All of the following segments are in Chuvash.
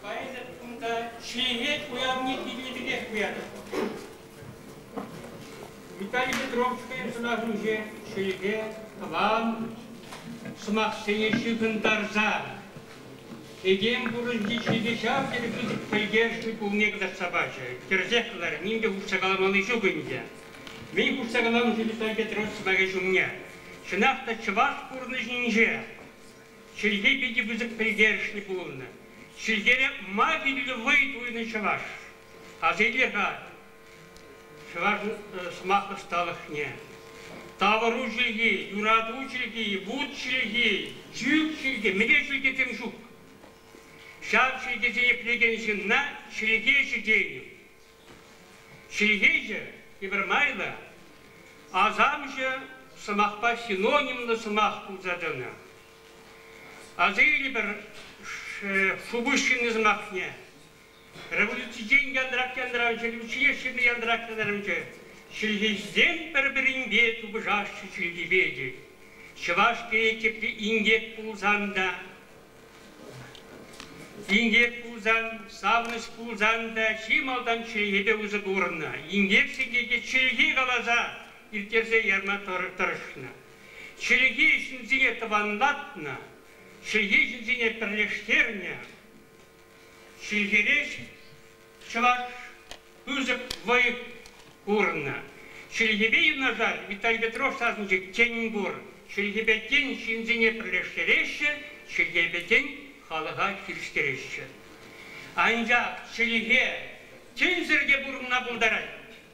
Поэзия кунта ҫӗнӗлет, уявне килнӗ пекех туятӑп. Виталий Петровская сӑнарӗнче ҫӗлӗке, тӑван сӑмахсене ҫыхӑнтарса этем пурнӑҫӗнчи ҫӗлӗке ҫав тери пысӑк пӗлтерӗшлӗ пулнине кӑтартса пачӗ. Тӗрӗсех кӑларӗ, ним те хушса каламалли ҫук ӗнтӗ. Мӗн хушса каламӑш Виталий Петрович сӑмахӗ ҫумне? Чӑнах та чӑваш пурнӑҫӗнче чӗлхе питӗ пысӑк пӗлтерӗшлӗ пулнӑ. Чӗлхере ма вирлӗ вӑй туйнӑ чӑваш? Асилле-ха чӑваш сӑмах ӑсталӑхне. Тавӑру чӗлхи, юрату чӗлхи, вут чӗлхи, чӳк чӗлхи, мӗне чӗлхесем ҫук. Ҫав чӗлхесене пӗлекен ҫынна чӗлхе ҫитӗнӗ. Ҫыйхиҫӑ тепӗр майлӑ асамҫӑ сӑмахпа синонимлӑ сӑмах пулса тӑнӑ. Асилнӗ пӗр шупуҫҫынни сӑмахне революцисен янтрак-янтран ҫӗлӗкҫине ҫынни янтрак-янтарӑмчӗ. Ҫыйхисем пӗр-пӗринпе тупӑшаҫҫӗ чӗлхипе тет. Чӑваш тейӗ тепри инкек пулсан та Инкек пулсан, савӑнӑҫ пулсан та чи малтан чӗлхепе усӑ курнӑ. Инкек сехете чӗлхе каласа ирттерсе ярма тӑрӑшнӑ. Чӗлхе ҫынсене тӑванлатнӑ, чӗлхе ҫынсене пӗрлештернӗ. Ҫӗнтерес чӑваш пысӑк вӑй курнӑ. Чӗлхепе юнашар Виталий Петров сасӑнчӑк тен пур. Чӗлхепетен ҫынсене пӗрлештереҫҫӗ, чӗлхепетен халӑха хирӗҫтереҫҫӗ. Анчах чӗлхе тӗнсӗр те пурӑнма пултарать.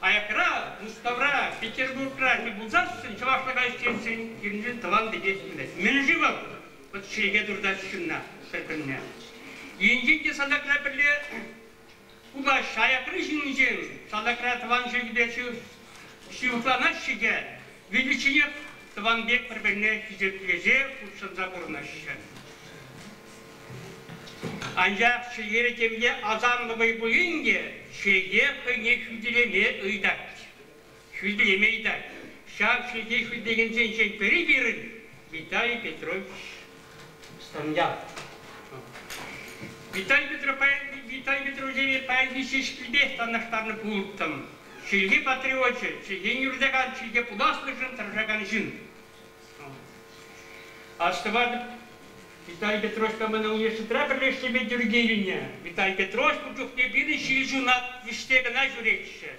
аякра, Мускавра, Петербургра тӗл пулсассӑн чӑвашлӑха ӳстерсен пирӗншӗн тӑван пекех пулать. Мӗн-ши вӑл? Вӑт чӗрипе туртать ҫынна пӗр-пӗрне. Енчен те салтакра пӗрле купаҫҫӗ, аякри ҫыннисем салтакра тӑван чӗлхепе ҫывӑхланаҫҫӗ те виличченех тӑван пек пӗр-пӗрне хисеплесе хутшӑнса пурӑнаҫҫӗ. Анчах чӗлхере темле асамлӑ вӑй пулин те чӗлхе хӑйне хӳтӗлеме ыйтать. Хӳтӗлеме ыйтать. Ҫав чӗлхе хӳтӗлекенсенчен пӗри пирӗн Виталий Петрович Стамьян. Виталий, Петро, Виталий Петровичеве паянхи ҫеҫкипех танлаштарнӑ пулӑттӑм. Чӗлхе патриочӗ, чӗлхене юратакан, чӗлхе пуласлӑхшӑн тӑрӑшакан ҫын. Астӑватӑп, Виталий Петровичпа мана университетра пӗрлешнипе тӳрке килнӗ. Виталий Петрович ун чухне пирӗн ҫил ҫуна вӗҫсе кӑна ҫӳретчӗ.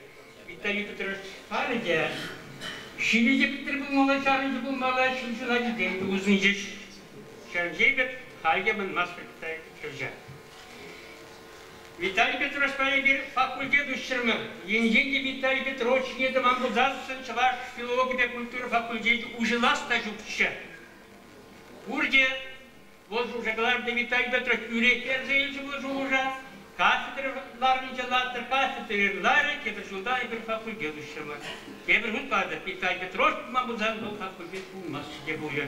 Виталий Петрович халӗ те ҫилӗ те пӗтӗр пулмалла, чарӑнчӗ пулмалла, ҫил ҫуна килтен те усӑнчӗҫ. Ҫавӑн пек халь те манмастӑп Виталий Петровича. Виталий Петровичпа эпир факультет уҫрӑмӑр. Енчен те Виталий Петрович ҫине тӑман пулсассӑн чӑваш филологипе культура факультечӗ уҫӑлас та ҫукчӗ. Пурте, вӑл шуша кӑларнӑ Виталий Петрович тӳрех персе илчӗ вӑл шухӑша, кафедра ларнинче латтӑр кафедра ларӗ, тепӗр ҫулта эпир факультет уҫрӑмӑр. Тепӗр хут калатӑп, Виталий Петрович пулман пулсан вӑл факультет пулмасть те пулӗ.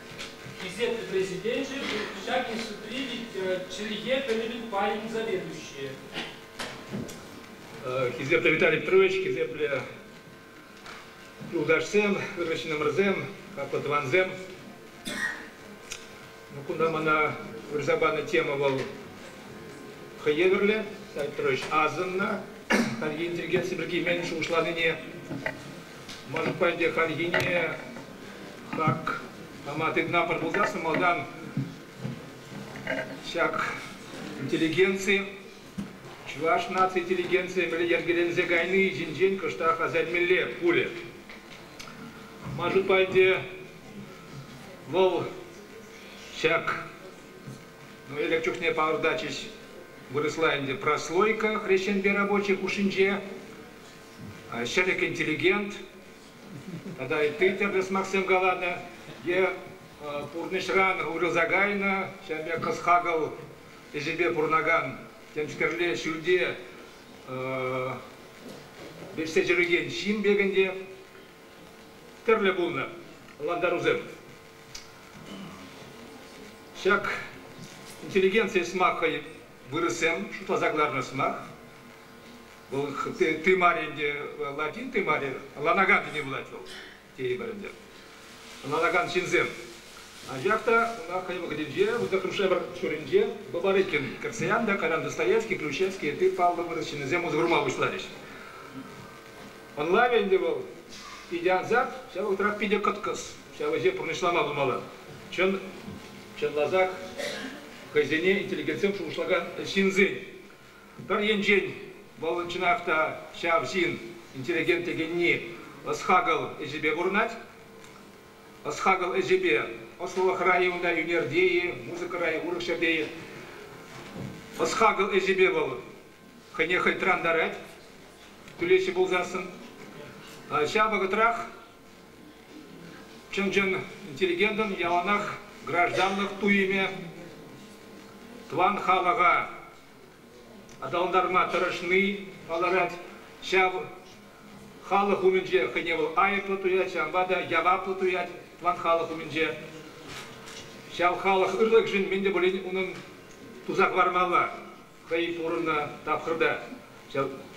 Хисеплӗ Президенчӗ, ҫак институтри чӗлхе пӗлӗвӗн пайӗн заведующийӗ. Хисеплӗ Виталий Петрович, хисеплӗ юлташсем, ырӑҫнӗмӗрсем, хаклӑ тӑвансем. Ну, кунта мана вырса панӑ тема вӑл хӑй евӗрлӗ. Виталий Петрович асӑннӑ хальхи интеллигенци пирки мӗн шухӑшланине Мӑшкпа ӗнтӗ хальхине хак пама тытӑнатпӑр пулсассӑн малтан ҫак интеллигенци, чӑваш наци интеллигенцийӗ мӗнле йӗркеленсе кайни ҫинчен кӑштах асаймелле пулӗ. Ман шутпа ӗнтӗ вӑл ҫак ну, элек чухне палӑртатчӗҫ вырӑсла ӗнтӗ прослойка хресченпе рабочий хушшинче ҫӗлӗк интеллигент тата ытти тӗрлӗ сӑмахсем каланӑ е пурнӑҫран уйрӑлса кайнӑ, ҫав пек кӑс-хакӑл ӗҫӗпе пурӑнакан темскерле ҫӳлте вӗҫсе ҫӳрекен ҫын пек ӗнтӗ тӗрлӗ пулнӑ лантарусем. Ҫак интеллигенци сӑмах хӑй вырӑссем шутласа кӑларнӑ сӑмах. Вӑл тымар ӗнтӗ, латин тымарӗ, ланаган тени пулать вӑл, тейӗпӗр ӗнтӗ. Ланаган ҫынсем. Анчах та ӑна хӑй вӑхӑтӗнче, выртаканшай пӗр ҫуринче Бабарыкин, Кирсаян та, Колян Достоевский, Плющевский, ытти паллӑ вырӑс ҫыннисем усӑ курма пуҫларӗҫ. Ӑнлавӗ ӗнтӗ вӑл питӗ ансат, ҫав вӑхӑтрах питӗ кӑткӑс. Ҫав ӗҫе пурнӑҫлама пулмалла. Чӑн, чӑнласах хӑйсене интеллигентсем шухӑшлакан ҫынсен Пӗр енчен вӑл чӑнах та ҫав ҫын интеллигент текенни ӑс-хакӑл ӗҫӗпе курӑнать. Ӑс-хакӑл ӗҫӗпе ӑслӑлӑхра-и унта ӳнерте-и, музыкӑра-и, урӑх ҫӗрте-и, ӑс-хакӑл ӗҫӗпе вӑл хӑйне хӑй тӑрантарать, тӳлеҫҫӗ пулсассӑн. Ҫав вӑхӑтрах Чӑн-чӑн интеллигентӑн яланах гражданлӑх туйӑмӗ тӑван халӑха аталантарма тӑрӑшни палӑрать. Ҫав халӑх умӗнче хӑйне вӑл айӑплӑ туять, ҫавӑнпа та яваплӑ туять тӑван халӑх умӗнче. Ҫав халӑх ырлӑхӗшӗн мӗн те пулин унӑн туса хӑвармалла. хӑй пурӑннӑ тапхӑрта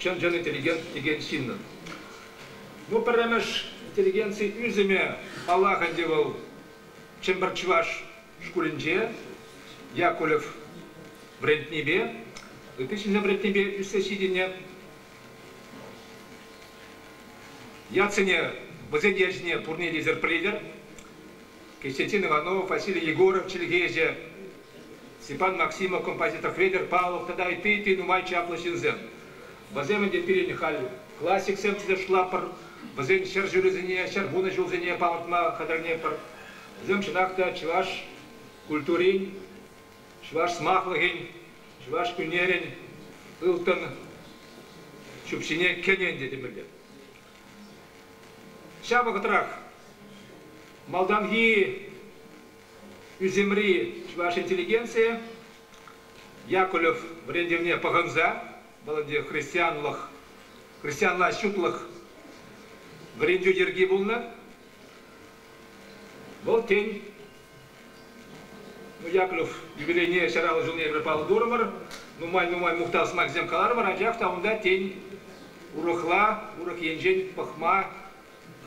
чӑн-чӑн интеллигент текен ҫыннӑн. Ну, пӗрремӗш интеллигенци ӳсӗмӗ, паллах ӗнтӗ, вӑл Чӗмпӗр чӑваш шкулӗнче Якулев вӗрентнипе, ытти ҫынсем вӗрентнипе ӳссе ҫитӗннӗ. Ятсене, вӗсен ячӗсене пурне те эсир пӗлетӗр. Костянтин Иванов, Василий Егоров чӗлхеҫӗ, Степан Максимов композитор Федор Павлов тата ытти те нумай чаплӑ ҫынсем. Вӗсем ӗнтӗ пирӗн халь классиксем чӑтӑшлатпӑр, вӗсен ҫӗршывӗсене, ҫӗр вунӑ ҫулсене палӑртма хатӗрленетпӗр. Вӗсем чӑнах та чӑваш культурин, чӑваш сӑмахлӑхӗн, чӑваш ӳнерӗн ылтӑн ҫӳпҫине кӗнӗ ӗнтӗ темелле. Ҫав вӑхӑтрах малтанхи Ӳсӗмри чӑваш интеллигенцийӗ Якулев вӗрентӗвне пӑхӑнса вӑл ӗнтӗ христианлӑх, христианла ҫутлӑх вӗрентӳ йӗрки пулнӑ. Вӑл тен, ну, Яковлев юбилейне ҫараллӑ ҫулне эпир паллӑ турӑмӑр, нумай-нумай мухтав сӑмахӗсем каларӑмӑр, анчах та унта тен урӑхла, урӑх енчен пӑхма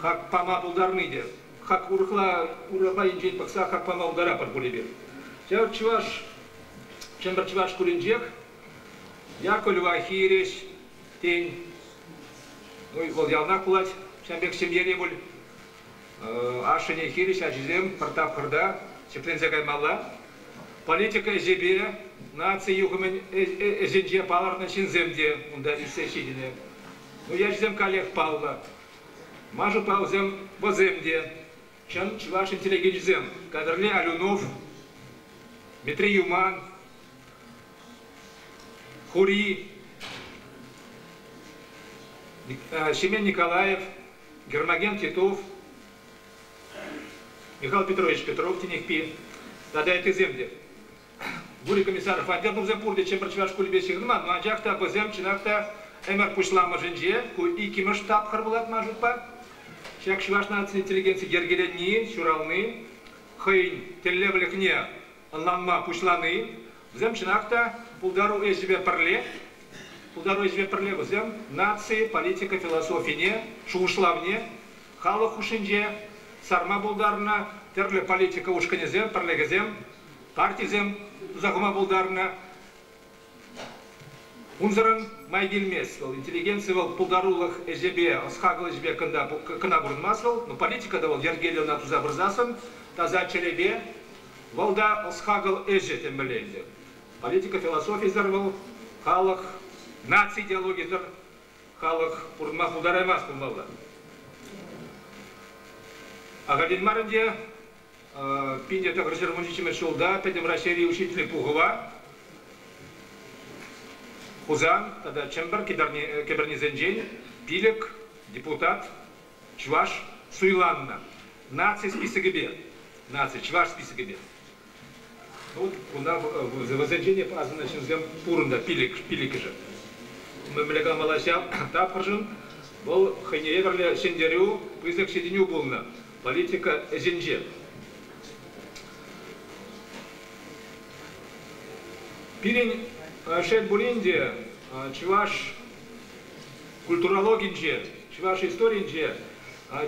Хак пама пултарни те. Хак урӑхла урапа енчен пӑхса хак пама пултаратпӑр пуль эпир. Ҫав чӑваш Чӗмпӗр чӑваш шкулӗнчех Яков Левахи ирес. Тен, ну, вӑл яланах пулать. Ҫавӑн пек ҫемьере пуль ашшӗне хирӗҫ ачисем пӗр тапхӑрта ҫӗкленсе каймалла. Политика ӗҫӗпе наци юхӑмӗн ӗҫӗнче палӑрнӑ ҫынсем те унта ӳссе ҫитӗнӗ. Уявҫӑсем каллех паллӑ. Маша Павлсем вӑсем те, чӑн чӑваш интеллигенчӗсем. Кадрле Алюнов, Митрий Юман, Хури, Семен Николаев, Гермоген Титов, Михаил Петрович Петров тенехпи тата ыттисем те. Гурий комиссар хваттер тупса пурте Чӗмпӗр чӑваш шкулӗпе ҫыхӑнман, но анчах та вӗсем чӑнах та ӗмӗр пуҫламӑшӗнче, ку иккӗмӗш тапхӑр пулать ман шутпа. Ҫак чӑваш наци интеллигенци йӗркелени, ҫурални, хӑйӗн тӗллевлӗхне ӑнланма пуҫлани, вӗсем чӑнах та пултару ӗҫӗпе пӗрле, пултару ӗҫӗпе пӗрле вӗсем наци, политика философине, шухӑшлавне халӑх хушшинче сарма пултарнӑ тӗрлӗ политика ушкӑнӗсем, пӗрлӗхӗсем партисем туса хума пултарнӑ. Унсӑрӑн май килмест вӑл. Интеллигенци вӑл пултарулӑх ӗҫӗпе, ӑс-хакӑл ӗҫӗпе кӑна, кӑна пурӑнмасть вӑл. Но политика та вӑл йӗркеллӗ ӑна туса пырсассӑн таса чӗрепе. Вӑл та ӑс-хакӑл ӗҫӗ темелле ӗнтӗ. Политика философийӗсӗр вӑл халӑх, наци идеологийӗсӗр халӑх пурӑнма пултараймасть пулмалла. Ахальтен мар ӗнтӗ Питӗ тӑхӑр ҫурмӑшӗҫемӗш ҫулта Пӗтӗм Раҫҫейри учитель пухӑва Хусан тата Чӗмпӗр кӗпӗрнисенчен пилӗк депутат чӑваш суйланнӑ. Наци списокӗпе, наци чӑваш списокӗпе. Ну, кунта вӗсенчен асӑннӑ ҫынсем пурӑн та пилӗк, пилӗкӗшӗ. Мӗнле калмалла ҫав тапхӑршӑн? Вӑл хӑйне евӗрлӗ ҫӗнтерӳ, пысӑк ҫитӗнӳ пулнӑ. политика ӗҫӗнче. Пирӗн, шел пулин те, чӑваш культурологинче, чӑваш историйӗнче,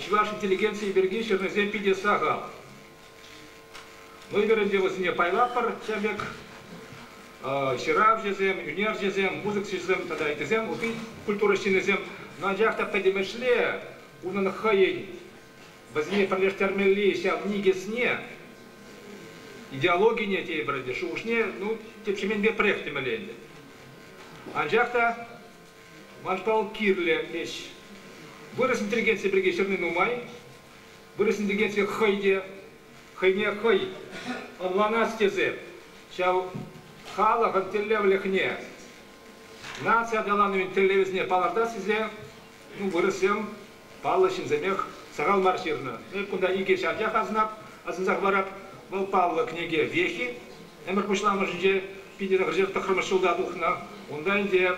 чӑваш интеллигенцийӗ пирки ҫырнисем питӗ сахал. Мӑйгӑр ӗнтӗ вӗсене пайлатпӑр тем пек. Ҫыравҫӑсем, ӳнерҫӗсем, музыкҫӑсем тата ыттисем, ытти культура ҫыннисем, анчах та пӗтӗмӗшле Унӑн хӑйӗн вӗсене пӗрлештермелли ҫав никӗсне, идеологине тейпӗр ӗнтӗ, шухӑшне ну, тӗп ҫеменпепрех темелле ӗнтӗ. Анчах та ман пал кирлӗ ӗҫ. Вырӑс интеллигенцийӗ пирки ҫырни нумай. Вырӑс интеллигенцийӗ хӑй те, хӑйне хӑй ӑнланас тесе ҫав халӑхӑн тӗллевлӗхне, наци аталанӑвӗн тӗллевӗсене палӑртас тесе Ну, вырӑссем паллӑ ҫынсемех сахал мар ҫырнӑ. Эп кунта икӗ ҫатьях асӑнап, асӑнсах парап. Вӑл паллӑ кӗнеке Вехи. Ӗмӗр пуҫламӑшӗнче Питӗрӗ хӑҫан тӑххӑрмӗш ҫулта тухнӑ. Унта ӗнтӗ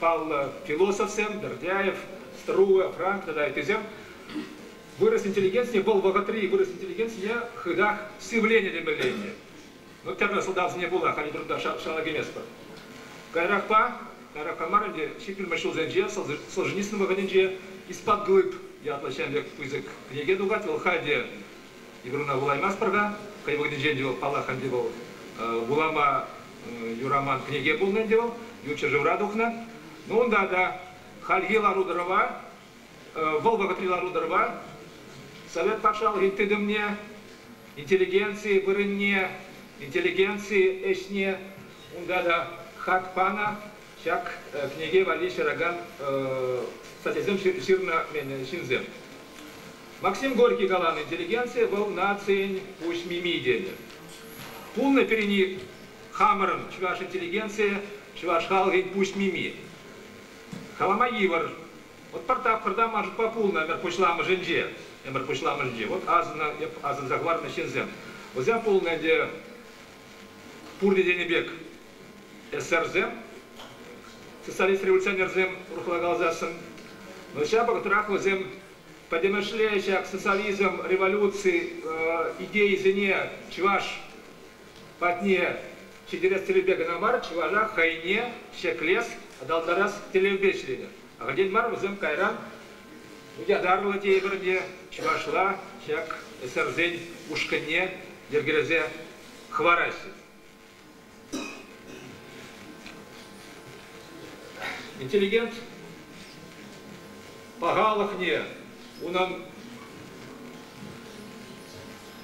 паллӑ философсем Бердяев, Струга, Франк тата ыттисем вырӑс интеллигенцине, вӑл вӑхӑтри вырӑс интеллигенцине хытах сивленӗ темелле ӗнтӗ. Ну, тепӗр сӑлтавсене пула халь вырӑнта шала кайместпӑр. Каярахпа, каярахпа мар ӗнтӗ, ҫиттӗмӗр ҫулсенче Солженицын вӑхӑтӗнче Испат глыб ятлӑ ҫемлек пысӑк кӗнеке тухать. Вӑл халь те вырӑна вулаймастпӑр-ха. Хӑй вӑхӑтӗнче ӗнтӗ вӑл, паллах, ӗнтӗ вӑл вулама юраман кӗнеке пулнӑ ӗнтӗ вӑл, ют ҫӗршывра тухнӑ. Ну, унта та хальхи лару-тӑрӑва вӑл вӑхӑтри лару-тӑрӑва Совет патшалӑхӗн тытӑмне, интеллигенци вырӑнне, интеллигенци ӗҫне унта та хак панӑ. Ҫак кӗнеке валли ҫыракан статьясем ҫырнӑ ҫынсем. Максим Горький каланӑ интеллигенци вӑл нацин пуҫ мими тенӗ. Пулнӑ пирӗн хамӑрӑн чӑваш интеллигенцийӗ чӑваш халӑхӗн пуҫ мими. Калама йывӑр, вӑт пӗр тапхӑрта Машукпа пулнӑ ӗмӗр пуҫламӑшӗнче. Ӗмӗр пуҫламӑшӗнче вӑт асӑннӑ, эп асӑнса хӑварнӑ ҫынсем, вӗсем пулнӑ ӗнтӗ пурте тенӗ пек эсерсем, социалист-революционерсем урӑхла каласассӑн. Но ҫав вӑхӑтрах вӗсем пӗтӗмӗшле ҫак социализм, революци идейисене чӑваш Патне ҫитерес тӗллевпе кӑна мар, чӑваша хӑйне ҫӗклес, аталантарас тӗллевпе ӗҫленӗ. Ахальтен мар вӗсем кайран ятарлӑ тейпӗр те чӑвашла ҫак ӗҫсӗрсен ушкӑнне йӗркелесе хӑвараҫҫӗ. Интеллигент пахалӑхне унӑн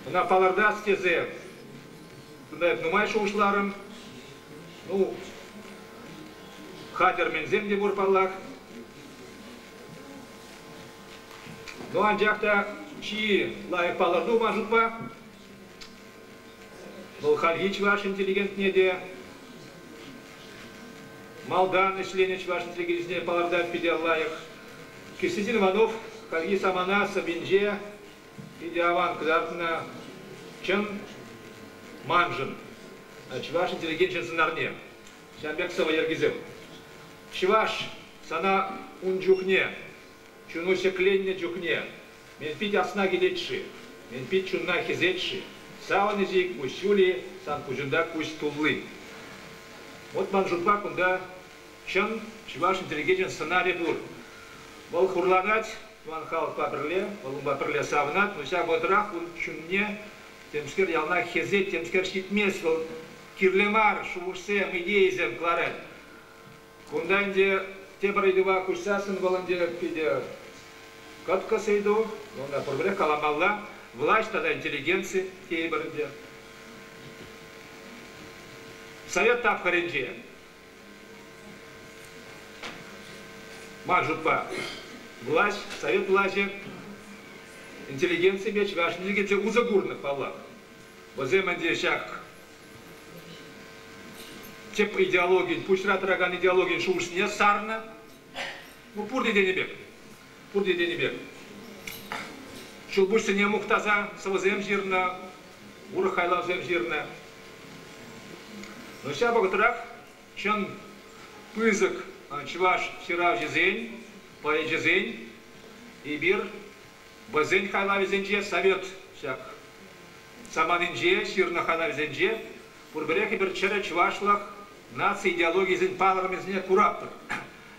ӑна палӑртас тесе нумай шухӑшларӑм. Ну, хатӗрменсем те пур паллах. Ну, анчах та чи лайӑх палӑрту, ман шутпа, Вӑл хальхи чӑваш интеллигентне те малтан ӗҫленӗ чӑваш интеллигенцине палӑртать питӗ лайӑх. Кистин Иванов хальхи самана сӑввинче питӗ аван кӑтартнӑ чӑн маншӑн, чӑваш интеллигенчӗн сӑнарне. Ҫавӑн пек сӑвӑ йӗркисем. Чӑваш сана ун чухне, чуну ҫӗкленнӗ чухне, Мӗн пит асна килет-ши? Мӗн пит чунна хӗсет-ши? Савӑнӑҫӗ ик пуҫ ҫули, сан куҫунта куҫ тулли. Вот ман шутпа кунта чӑн чӑвашӑн тӗрекечӗн сӑнарӗ пур. Вӑл хурланать тӑван халӑхпа пӗрле, вӑл унпа пӗрле савӑнать, но ҫав вӑхӑтрах ун чунне темскер яланах хӗсет, темскер ҫитмест, вӑл кирлӗ мар шухӑшсем, идейӑсем кӑларать. Кунта ӗнтӗ тепӗр ыйтӑва куҫсассӑн вӑл ӗнтӗ питӗ кӑткӑс ыйту. Ӑна пурпӗрех каламалла. Власть тата интеллигенци тейӗпӗр ӗнтӗ. Совет тапхӑрӗнче ман шутпа власть, совет влаҫӗ интеллигенципе чӑваш интеллигенцийӗ усӑ курнӑ паллах. Вӗсем ӗнтӗ ҫак тӗп идеологин, пуҫра тӑракан идеологин шухӑшне сарнӑ. Ну, пурте тенӗ пек, пурте тенӗ пек. Ҫулпуҫсене мухтаса сӑвӑсем ҫырнӑ, урӑх хайлавсем ҫырнӑ. Но ҫав вӑхӑтрах чӑн пысӑк чӑваш ҫыравҫисен, поэчӗсен эпир вӗсен хайлавӗсенче совет ҫак саманинче ҫырнӑ хатарӗсенче пурпӗрех эпир чӗрӗ чӑвашлӑх наци идеологийӗсен палӑрӑмӗсене куратпӑр.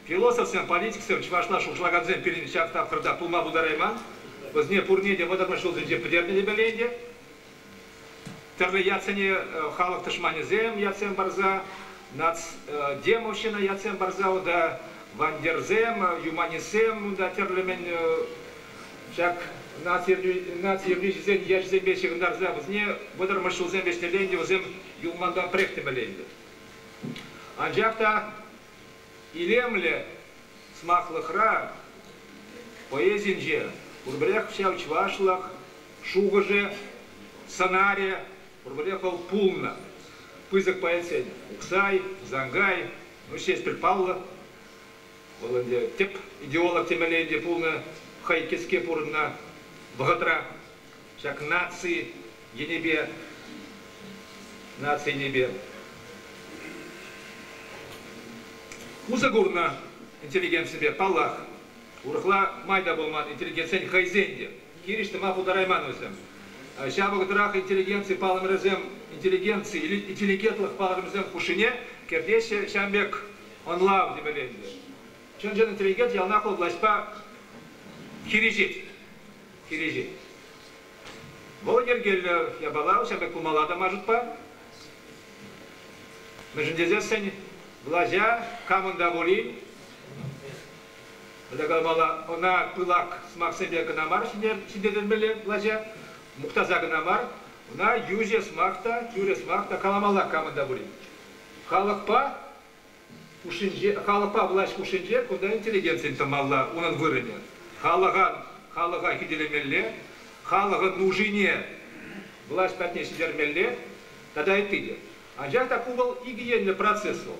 Философсем, политиксем чӑвашла шухӑшлакансем пирӗн ҫак тапхӑрта пулма пултарайман. Вӗсене пурне те вӑтӑрмӗш ҫулсенче пӗтернӗ темелле ӗнтӗ. Тӗрлӗ ятсене халӑх тӑшманӗсем ятсем парса, нацдемовщина ятсем парса унта вандерсем, юманистсем унта тӗрлӗ-мӗн Ҫак наци юррисен ячӗсемпе ҫыхӑнтарса вӗсене вӑтӑрмӗш ҫулсем вӗҫнӗрен те вӗсем юлмантанпрех темелле ӗнтӗ. Анчах та илемлӗ сӑмахлӑхра, поэзинче пурпӗрех ҫав чӑвашлӑх шухӑшӗ, сӑнарӗ пурпӗрех вӑл пулнӑ. Пысӑк поэтсен Уксай, Тусанкай, ну ҫеҫ пӗл паллӑ. Вӑл ӗнтӗ тӗп идеолог темелле ӗнтӗ пулнӑ, хӑй кӗске пурӑннӑ вӑхӑтра ҫак наци енӗпе наци енӗпе усӑ курнӑ интеллигенципе, паллах. Урӑхла май та пулман интеллигентсен хӑйсен те. Хирӗҫ тӑма пултарайман вӗсем. Ҫав вӑхӑтрах интеллигенци палӑмӗрӗсем интеллигенци или интеллигентлӑх палӑрӑмӗсем хушшине кӗртеҫҫӗ. Ҫавӑн пек ӑнлав тӗпӗленчӗ. Чӑн-чӑн тренкет яланах вӑл влаҫпа хирӗҫет. Хирӗҫет. Вӑл йӗркеллӗ япала, ҫав пек пулмалла та мар шутпа. Мӗншӗн тесессӗн влаҫа камӑн та пулин пӗле ӑна пылак сӑмахсемпе кӑна мар ҫӗнтертермелле влаҫа, мухтаса кӑна мар, ӑна йӳҫӗ сӑмах та, тӳрӗ сӑмах та каламалла камӑн та пулин. Халӑхпа хушшинче, халӑхпа влаҫ хушшинче кунта интеллигенцин тӑмалла унӑн вырӑнӗ. Халӑха, халӑха хӳтӗлемелле, халӑхӑн нушине влаҫ патне ҫитермелле тата ытти те. Анчах та ку вӑл икӗ енлӗ процесс вӑл.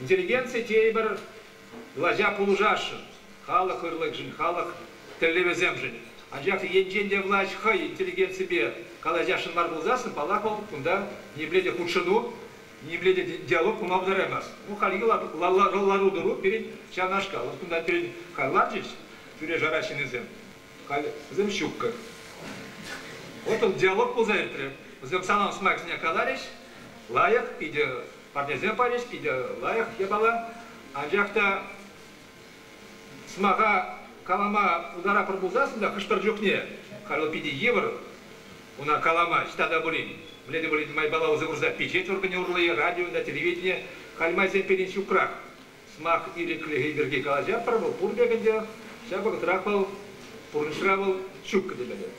Интеллигенци тейӗпӗр Влаҫа пулӑшасшӑн халӑх ырлӑхӗшӗн, халӑх тӗллевӗсемшӗн. Анчах енчен те влаҫ хӑй интеллигенципе калаҫасшӑн мар пулсассӑн, паллах, вӑл кунта ниепле те хутшӑну, ниепле те диалог пулма пултараймасть. Ну, хальхи лару-тӑру пирӗн ҫавнашкал. Вот кунта пирӗн халь ларчӗҫ тӳре-шара ҫыннисем, халь вӗсем ҫуккӑ. Вот он диалог пулса иртрӗ. Вӗсем санӑн сӑмахсене каларӗҫ. Лайӑх, питӗ Патӗрсе парӗҫ питӗ лайӑх япала, анчах та сӑмаха калама пултаратпӑр пулсассӑн та хӑш-пӗр чухне Халил питӗ йывӑр ӑна калама. Ҫта та пулин, мӗнле те пулин майпала усӑ курса пичет органӗ урлӑ радио та телевидение халь майсем пирӗн ҫукрах. сӑмах ирӗклӗхӗ пирки калаҫатпӑр вӑл пур пек ӗнтӗ. Ҫав вӑхӑтрах вӑл пурнӑҫра вӑл ҫуккӑ темелле.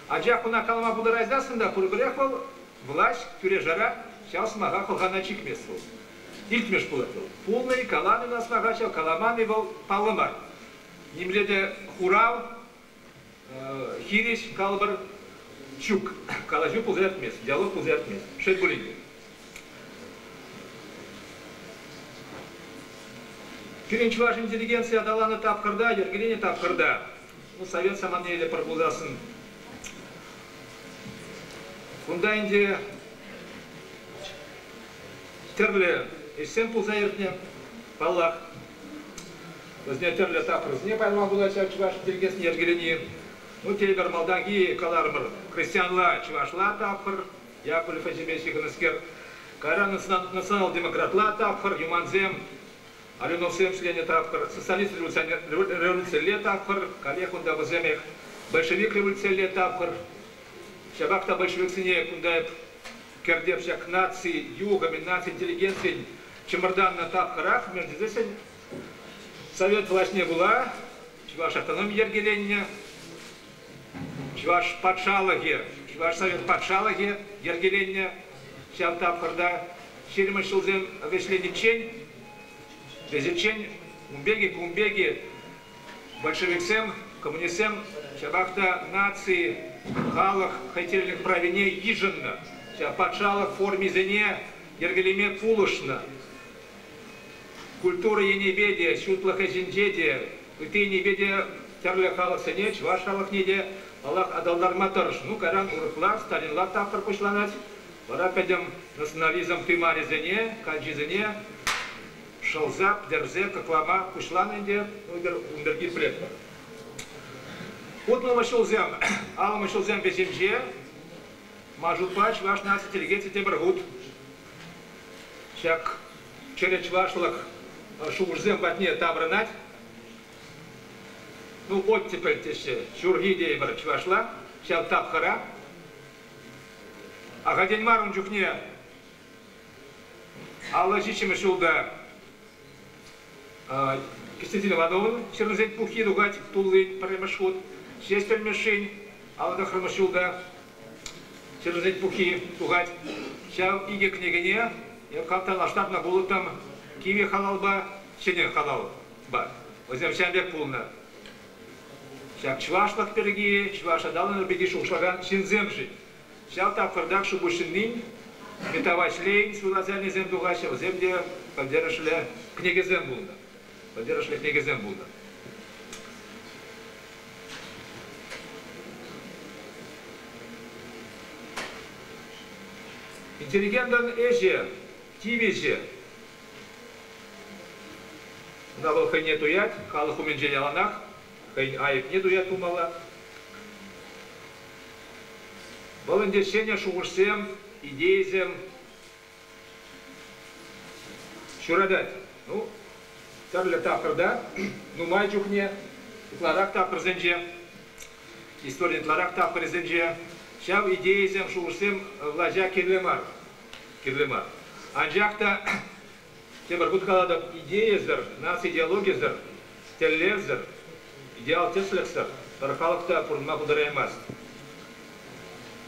Анчах ӑна калама пултараймастӑн та пурпӗрех вӑл влаҫ тӳре-шара ҫав сӑмаха хӑлхана чикмест вӑл. Илтмеш пулать вӑл. Пулнӑ-и, каланӑ ӑна сӑмаха ҫав, каламан-и вӑл паллӑ мар. Нимле те хурав хирӗҫ калӑпӑр ҫук калаҫу пулса иртмест диалог пулса иртмест шел пулин те Пирӗн чӑваш интеллигенцийӗ аталаннӑ тапхӑрта, йӗркеленӗ тапхӑрта ну, совет саманелле пӗр пулсассӑн унта ӗнтӗ тӗрлӗ ӗҫсем пулса иртнӗ паллах Вӗсене тӗрлӗ тапхӑрсене пайлма пулать ҫав чӑваш чӗлхесне йӗркелени. Ну, тепӗр малтанхи каларӑмӑр, христианла, чӑвашла тапхӑр, Яковлев ӗҫӗпе ҫыхӑннӑскер. Кайран национал-демократла тапхӑр, юмансем, Алюновсем ҫленӗ тапхӑр, социалист-революционерле тапхӑр, каллех унта вӗсемех большевик-революционерле тапхӑр. Ҫапах та большевиксене кунта эп Кӗртев ҫак наци, юхӑ наци интеллигенцийӗн чӑмӑртаннӑ тапхӑрах Мерседесӗн совет влаҫне пула чӑваш автономи йӗркеленнӗ, чӑваш патшалӑхӗ, чӑваш совет патшалӑхӗ йӗркеленнӗ ҫав тапхӑрта. Ҫирӗммӗш ҫулсем вӗҫлениччен вӗсенчен ун пекки кун пекки Большевиксем, коммунистсем ҫапах та наци, халӑх хӑйтерӗлӗх правине йышӑннӑ, ҫав патшалӑх формисене йӗркелеме пулӑшнӑ. Культура енӗпе те, ҫутлӑх ӗҫӗнче те, ытти енӗпе те тӗрлӗ халӑхсене, чӑваш халӑхне те паллах аталантарма тӑрӑш. Ну, кайран урӑхла, Сталинла тапхӑр пуҫланать. Вара пӗтӗм национализм тымарӗсене, калчисене шӑлса пӗтерсе кӑклама пуҫланӑ ӗнтӗ ун пирки пӗлетпӗр. Хутлӑмӑш ҫулсем, алӑмӑш ҫулсем вӗҫӗнче Мажутпа чӑваш наци тӗрекетӗ тепӗр хут ҫак чӗрӗ чӑвашлӑх шухӑшсем патне таврӑнать. Ну, оттепель теҫҫӗ, ҫурхи тейӗпӗр чӑвашла ҫав тапхӑра. Ахальтен мар ун чухне Аллӑ ҫиччӗмӗш ҫулта Кристина Ивановна ҫырнисен пуххи тухать тулли пӗрремӗш хут. Ҫеҫ тӗлмешшин алла тӑхрӑмӗш ҫулта ҫырнисен пуххи тухать. Ҫав икӗ кӗнекене эп хавтанла штатна вулӑттӑм. Кивӗ халалпа, ҫӗнӗ халалпа. Вӗсем ҫавӑн пек пулнӑ. Ҫак чӑвашлӑх пирки, чӑваш аталанӑвӗ пирки шухӑшлакан ҫынсем-ши? Ҫав тапхӑртах Шупуҫҫыннин Мита Ваҫлейӗн ҫур-асанӗсем тухаҫҫӗ, вӗсем те пӗлтерӗшлӗ кӗнекесем пулнӑ. Пӗлтерӗшлӗ кӗнекесем пулнӑ. Интеллигентӑн ӗҫӗ, тивӗҫӗ. Кунта вӑл хӑйне туять, халӑх умӗнче яланах хӑйӗн айӑпне туя тумалла. Вӑл ӗнтӗ ҫӗнӗ шухӑшсем, идейӑсем ҫуратать. Ну, тӗрлӗ тапхӑрта нумай чухне ытларах тапхӑрсенче, истори ытларах тапхӑрӗсенче ҫав идейӑсем, шухӑшсем влаҫа кирлӗ мар, кирлӗ мар. Анчах та Тепӗр хут калатӑп, идейӑсӑр, нацидеологисӗр, тӗллевсӗр, идеал-тӗслӗхсӗр пӗр халӑх та пурӑнма пултараймасть.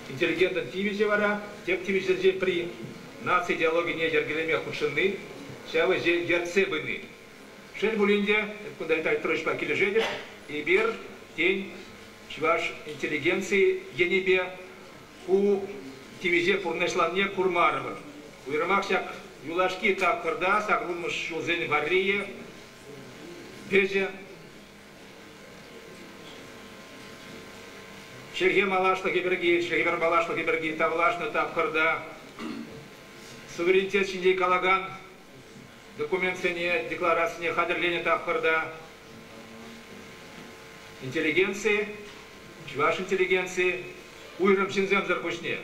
Интеллигентӑн тивӗҫӗ вара, тӗп тивӗҫсенчен пӗри, наци идеологине йӗркелеме хутшӑнни, ҫав ӗҫе ертсе пыни. Шел пулин те, эп кунта Виталий Петровичпа килӗшетӗп. Эпир, тен, чӑваш интеллигенцийӗ енӗпе Ку тивӗҫе пурнӑҫланине курмарӑмӑр. Уйрӑмах ҫак юлашки тапхӑрта саккунмӑш ҫулсен варрийӗ, вӗҫӗ. Чӗлхе малашлӑхӗ пирки, чӗлхепе малашлӑхӗ пирки тавлашнӑ тапхӑрта суверенитет ҫинчен калакан документсене, декларацине хатӗрленӗ тапхӑрта интеллигенци, чӑваш интеллигенци уйрӑм ҫынсемсӗр пуҫне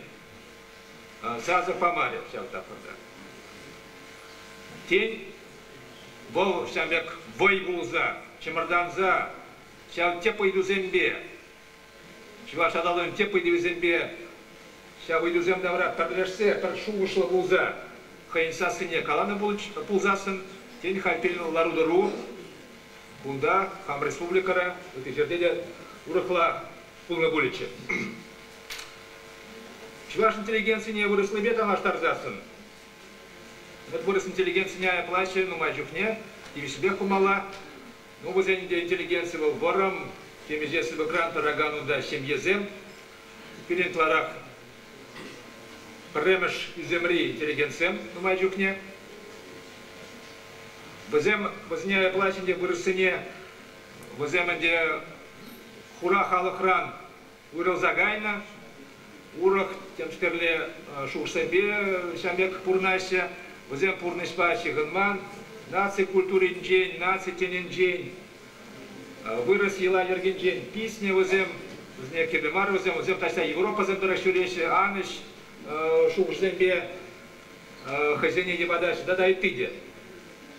сасӑ памарӗ ҫав тапхӑрта. Тен, вӑл ҫавӑн пек вӑй пулса, чӑмӑртанса ҫав тӗп ыйтусемпе Чӑваш аталӑхӗн тӗп ыйтӑвӗсемпе ҫав ыйтусем тавра пӗрлешсе пӗр шухӑшлӑ пулса хӑйӗн сассине каланӑ пулсассӑн, тен, халь пирӗн лару-тӑру кунта, хам республикӑра, ытти ҫӗрте те урӑхла пулнӑ пулӗччӗ. Чӑваш интеллигенцине вырӑслипе танлаштарсассӑн, вырӑс интеллигенцине айӑплаҫҫӗ нумай чухне, тивӗҫлӗпех пымалла. Ну, вӗсен те интеллигенци вӑл вӑрӑм, темиҫе сыпӑкран тӑракан унта ҫемьесем. Пирӗн ытларах пӗрремӗш ӳсӗмри интеллигентсем нумай чухне. Вӗсем, вӗсене айӑпла ӗҫӗнче вырӑссене, вӗсем ӗнтӗ хура халӑхран Уйрӑлса кайнӑ. Урӑх темскерле шухӑшсемпе ҫав пек пурӑнаҫҫӗ. Вӗсем пурнӑҫпа ҫыхӑнман. Наци культуринчен, наци тӗнӗнчен, вырӑс йӑла-йӗркинчен писнӗ вӗсем. Вӗсене кирлӗ мар вӗсем. Вӗсем таҫта Европӑсем тӑрӑх ҫӳреҫҫӗ. Анӑҫ шухӑшсемпе хӑйсене йӑпатаҫҫӗ тата ытти те.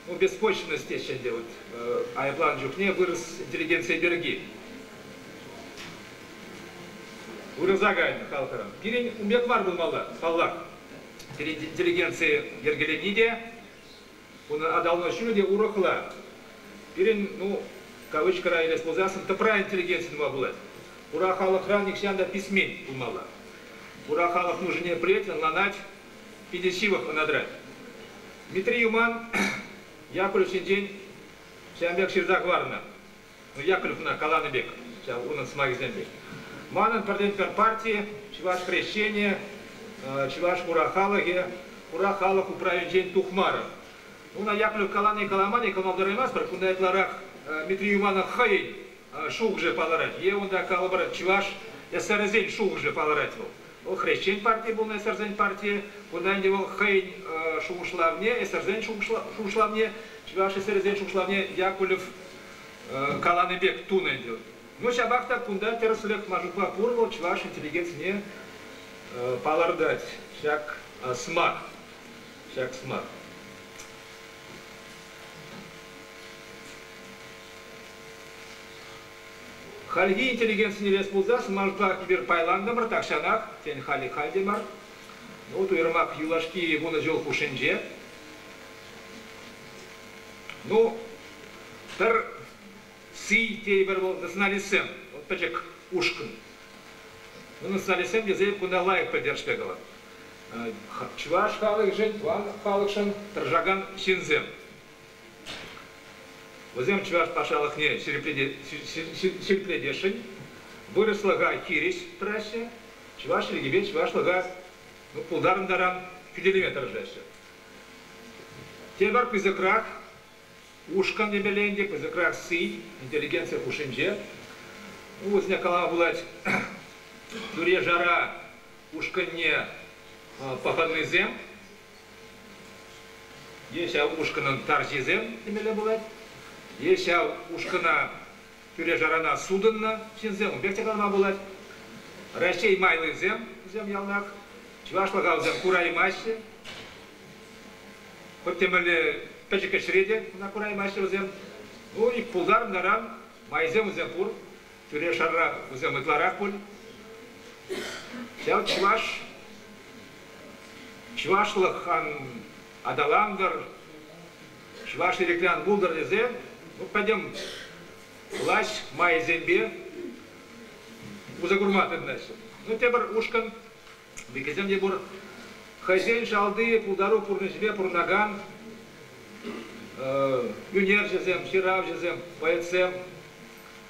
ну, беспочвенность теҫҫӗ ӗнтӗ вот, айӑпланӑ чухне вырӑс интеллигенцийӗ пирки. Вырӑса кайнӑ халӑхӑра. Пирӗн ун пек мар пулмалла, паллах. Пирӗн интеллигенци йӗркеленни те, унӑн аталанӑвӗ те урӑхла. Пирӗн, ну, кавычкӑра илес пулсан, тӑпра интеллигенци тума пулать. Хура халӑхра нихҫан та писмен пулмалла. Хура халӑх нушине пӗлет, ӑнланать, питӗ ҫывӑх ӑна тӑрать. Митри Юман Яковлев ҫинчен ҫавӑн пек ҫырса хӑварнӑ. Ну, Яковлевна каланӑ пек ҫав унӑн сӑмахӗсемпе. Манӑн пӗртен-пӗр парти, чӑваш хресченӗ, чӑваш хура халӑхӗ, хура халӑх управӗнчен тухмарӑм. Уна Яковлев калани-каламани кӑмӑлтараймастпӑр. Кунта ытларах Митри Юманӑн хӑйӗн шухӑшӗ палӑрать е унта калӑпӑр чӑваш эсерӗсен шухӑшӗ палӑрать вӑл. Вӑл хресчен парти пулнӑ эсерсен партийӗ. Кунта ӗнтӗ вӑл хӑйӗн шухӑшлавне, эсерсен шухӑшлавне, чӑваш эсерӗсен шухӑшлавне Якулев каланӑ пек тунӑ ӗнтӗ. Ну, ҫапах та кунта тӗрӗслӗх Машукпа пур вӑл чӑваш интеллигенцине палӑртать. Ҫак сӑмах. Ҫак сӑмах. Хальхи интеллигент сӗнтерес пулсас, манпа эпир пайлантӑмӑр тахҫанах, тен, халӗ халь те мар. Ну, уйрӑмах юлашки вунӑ ҫул хушшинче. Ну, пӗр сий тейӗпӗр вӑл националистсем, вӑл пӗчӗк ушкӑн. Ну, националистсем тесе кунта лайӑх пӗлтерӗшпе калать. Чӑваш халӑхӗшӗн, тӑван халӑхшӑн тӑрӑшакан ҫынсем. Вӗсем чӑваш патшалӑхне ҫирӗплетесшӗн, вырӑслӑха хирӗҫ тӑраҫҫӗ, чӑваш чӗлхипе чӑвашлӑха ну, пултарӑн таран хӳтӗлеме тӑрӑшаҫҫӗ. Тепӗр пысӑкрах ушкӑн темелле ӗнтӗ, пысӑкрах сый, интеллигенци хушшинче. Ну, вӗсене калама пулать тӳре-шара ушкӑнне пӑхӑннисем. Е ҫав ушкӑнӑн тарҫисем темелле пулать, е ҫав ушкӑна тӳре-шарана сутӑннӑ ҫынсем ун пек те калама пулать. Раҫҫей майлисем, вӗсем яланах чӑвашлӑха вӗсем кураймаҫҫӗ. Хӑть темелле пӗчӗк ӗҫре те куна кураймаҫҫӗ вӗсем. Ну, ик пултарӑн таран, майсем вӗсем пур. тӳре-шарра кусем ытларах пуль. Ҫав чӑваш чӑвашлӑх ан аталантӑр, чӑваш ирӗклӗ ан пултӑр тесе ну, пӗтӗм власть майӗсемпе уса курма тытӑнаҫҫӗ. Ну, тепӗр ушкӑн Никӗсем те пур. Хӑйсен шалти пултару пурнӑҫӗпе пурӑнакан ӳнерҫӗсем, ҫыравҫӑсем, поэтсем,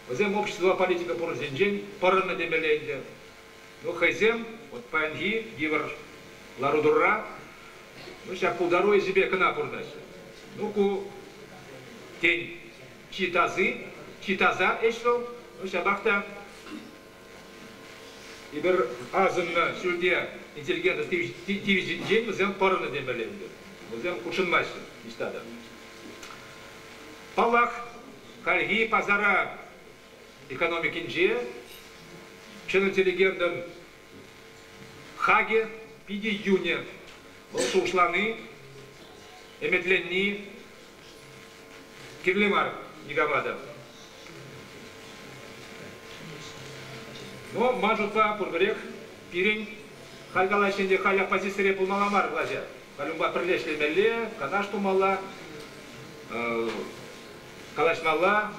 вӗсем общество политика пурнӑҫӗнчен пӑрӑннӑ темелле ӗнтӗ. Ну, хӑйсем вот паянхи йывӑр лару-тӑрура ну, ҫак пултару ӗҫӗпе кӑна пурӑнаҫҫӗ. Ну, ку, тен, чи тasi, чи таса ӗҫ вӑл. Ну, ҫапах та Эпир асӑннӑ ҫӳлте интеллигентӑн тивӗҫӗнчен вӗсем пӑрӑннӑ темелле ӗнтӗ. Вӗсем хутшӑнмаҫҫӗ ниҫта та. Паллах, хальхи пасара экономикинче ҫӗнӗ интеллигентӑн хакӗ питӗ йӳнӗ. Вӑл шухӑшлани, ӗмӗтленни Кирлӗ мар никама та. Но ман шутпа пурпӗрех пирӗн халь калаҫҫӗ ӗнтӗ халь оппозицире пулмалла мар влаҫа. Халюнпа пӗрле ӗҫлемелле, канаш тумалла, калаҫмалла,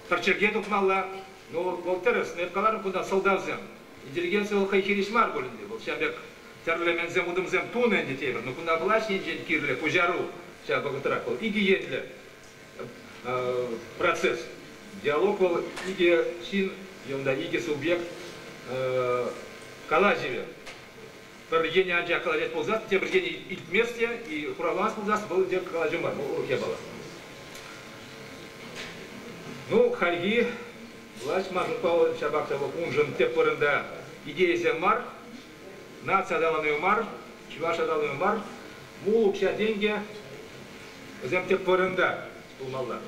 пӗрчӗрке тухмалла. Ну, Волтеров, эп каларӑм кунта сӑлтавсем. Интеллигенци вӑл хӑй хирӗҫ мар пуль ӗнтӗ, вӑл ҫав пек тӗрлӗ мӗнсем утӑмсем тунӑ ӗнтӗ тейӗпӗр. Но кунта влаҫ енчен кирлӗ пуҫару ҫав вӑхӑтрах вӑл икӗ енлӗ процесс. Диалог вӑл икӗ ҫын е унта икӗ субъект калаҫӑвӗ. Пӗр енӗ анчах калаҫать пулсан, тепӗр енӗ илтмест те, и хуравламасть пулсан, вӑл те калаҫу мар, вӑл урӑх япала. Ну, хальхи Власть манӑн паллӑ, ҫапах та вӑл уншӑн тӗп вырӑнта идейӑсем мар, наци аталанӑвӗ мар, чӑваш аталанӑвӗ мар, мул укҫа-тенкӗ, вӗсем тӗп вырӑнта пулмалла.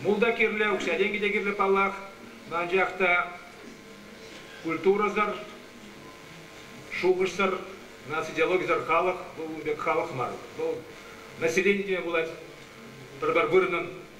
Мул та кирлӗ, укҫа-тенкӗ те кирлӗ паллах, анчах та культурӑсӑр, шухӑшсӑр, наци идеологисӗр халӑх вӑл ун пек халӑх мар. Вӑл населенийӗ пулать, пӗр-пӗр вырӑнӑн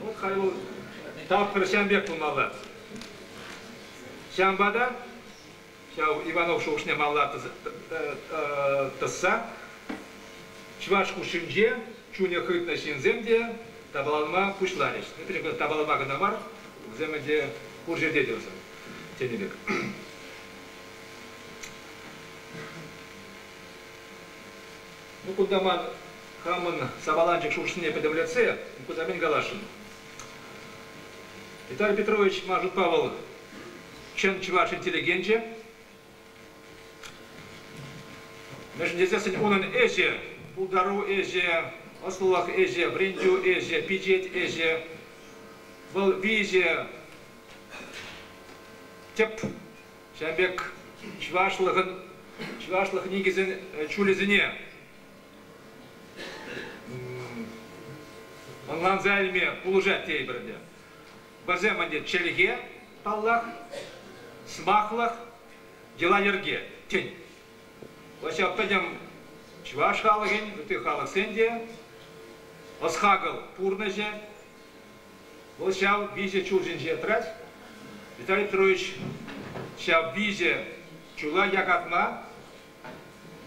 Вӑл хай вӑл тапхӑр ҫам пек пулмалла. Ҫавӑнпа та ҫав Иванов шухӑшне малла тӑсса чӑваш хушшинче чунӗ хытнӑ ҫынсем те тапаланма пуҫларӗҫ. Пӗчӗк тапаланма кӑна мар, вӗсем ӗнтӗ пур ҫӗрте те вӗсем тенӗ пек. Мукудаман хамӑн сапаланчӑк шуршине пӗтӗмлетсе Мукудамин каласшӑн. Виталий Петрович, ман шутпа, вӑл чӑн чӑваш интеллигенчӗ. Мӗншӗн тесессӗн унӑн ӗҫӗ, пултару ӗҫӗ, ӑслӑлӑх ӗҫӗ, вӗрентӳ ӗҫӗ, пичет ӗҫӗ, вӑл виҫӗ тӗп Ҫавӑн пек чӑвашлӑхӑн чӑвашлӑх никӗсӗн чулӗсене ӑнланса илме пулӑшать тейпӗр ӗнтӗ. Вӗсем ӗнтӗ чӗлхе, паллах, сӑмахлӑх, йӑла-йӗрке, тен. Ваҫҫа пӗтӗм чӑваш халӑхӗн, ытти халӑхсен те ӑс-хакӑл пурнӑҫӗ, Вӑл ҫав виҫӗ чул ҫинче тӑрать. Виталий Петрович ҫав виҫӗ чула якатма,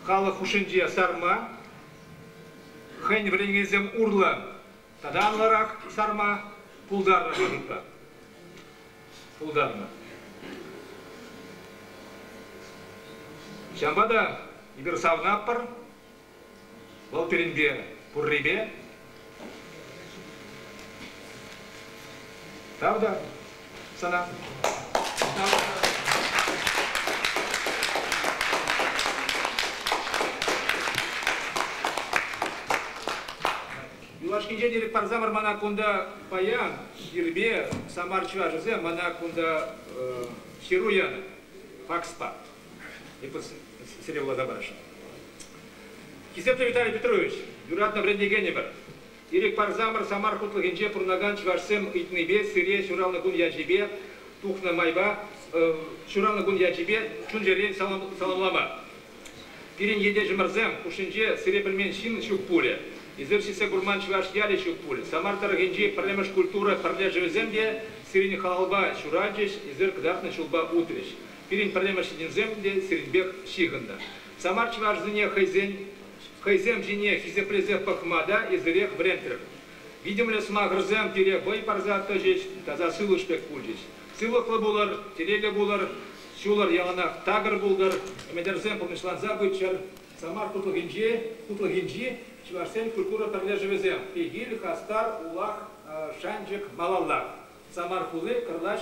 халӑх хушшинче сарма, хӑйӗн вӗренекенсем урлӑ тата анлӑрах сарма пултарнӑ шутпа пултарнӑ. Ҫавӑнпа та эпир савӑнатпӑр, Вӑл пирӗнпе пуррипе тав та сана. Тав. Юлашкинчен ирӗк парса мана кунта паян ирпе Самар чӑвашӗсем мана кунта ҫыру янӑ факспа. Эппин, сире вуласа парасшӑн. Хисеплӗ Виталий Петрович, юратнӑ вӗрентекенӗмӗр, ирӗк парсамӑр Самар хутлӑхӗнче пурӑнакан чӑвашсем ыйтнипе сире ҫуралнӑ кун ячӗпе тухнӑ майпа ҫуралнӑ кун ячӗпе чун-чӗререн саламлама. Пирӗн ентешӗмӗрсем хушшинче сире пӗлмен ҫын ҫук пулӗ. Эсир ҫитсе курман чӑваш ялӗ ҫук пуль. Самар тӑрӑхӗнчи пӗрремӗш культура пӗрлешӗвӗсем те сирӗн халапа ҫуралчӗҫ, эсир кӑтартнӑ ҫулпа утрӗҫ. Пирӗн пӗрремӗш ҫынсем те сирӗнпех ҫыхӑннӑ. Самар чӑвашӗсене хӑйсен хӑйсем ҫине хисеплесе пӑхма та эсӗрех вӗрентрӗм. Витӗмлӗ сӑмахӑрсем пире вӑй парса тӑчӗҫ, таса сывлӑш пек пулчӗҫ. Сывлӑхлӑ пулӑр, телейлӗ пулӑр, ҫулӑр, яланах такӑр пултӑр, ӗмӗтӗрсем пурнӑҫланса пыччӑр. Самар хутлӑхӗнчи хутлӑхӗнчи чӑвашсен культура пӗрлешӗвӗсем, Пехил, Хастар, Улах, Шанчӑк, Малалла, Самар хули, Кӑрлач,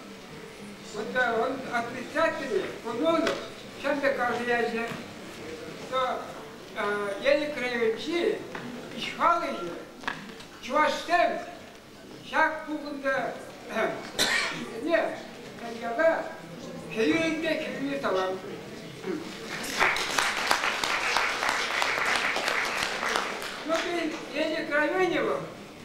Вот он отрицательный, Кумонов, ҫав пек каласа ячӗ, что Елик райончи ӗҫхалӑҫӗ чӑвашсем ҫак пухӑнта не яла хӗйӳренпе хӗрӳне талам. Ну, Елик районӗ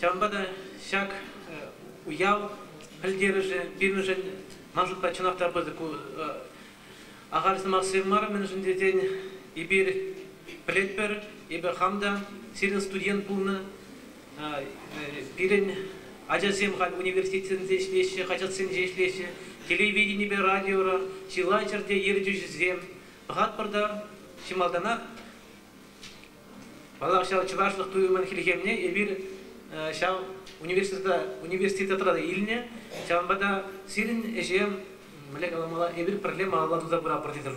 Ҫавӑнпа та ҫак уяв пӗлтерӗшӗ пирӗншӗн ман шутпа чӑнах та пысӑк ахаль сӑмахсем мар, мӗншӗн тесен эпир пӗлетпӗр, эпӗ хам та сирӗн студент пулнӑ. Пирӗн ачасем халь университетсенче ӗҫлеҫҫӗ, хаҫатсенче ӗҫлеҫҫӗ, телевиденипе радиора чылай ҫӗрте ертӳҫӗсем. Пӑхатпӑр та чи малтанах Паллах, ҫав чӑвашлӑх туйӑмӗн хӗлхемне эпир ҫав университетра та илнӗ. Ҫавӑнпа та сирӗн ӗҫе, мӗнле каламалла, эпир пӗрле малалла туса пыратпӑр тесе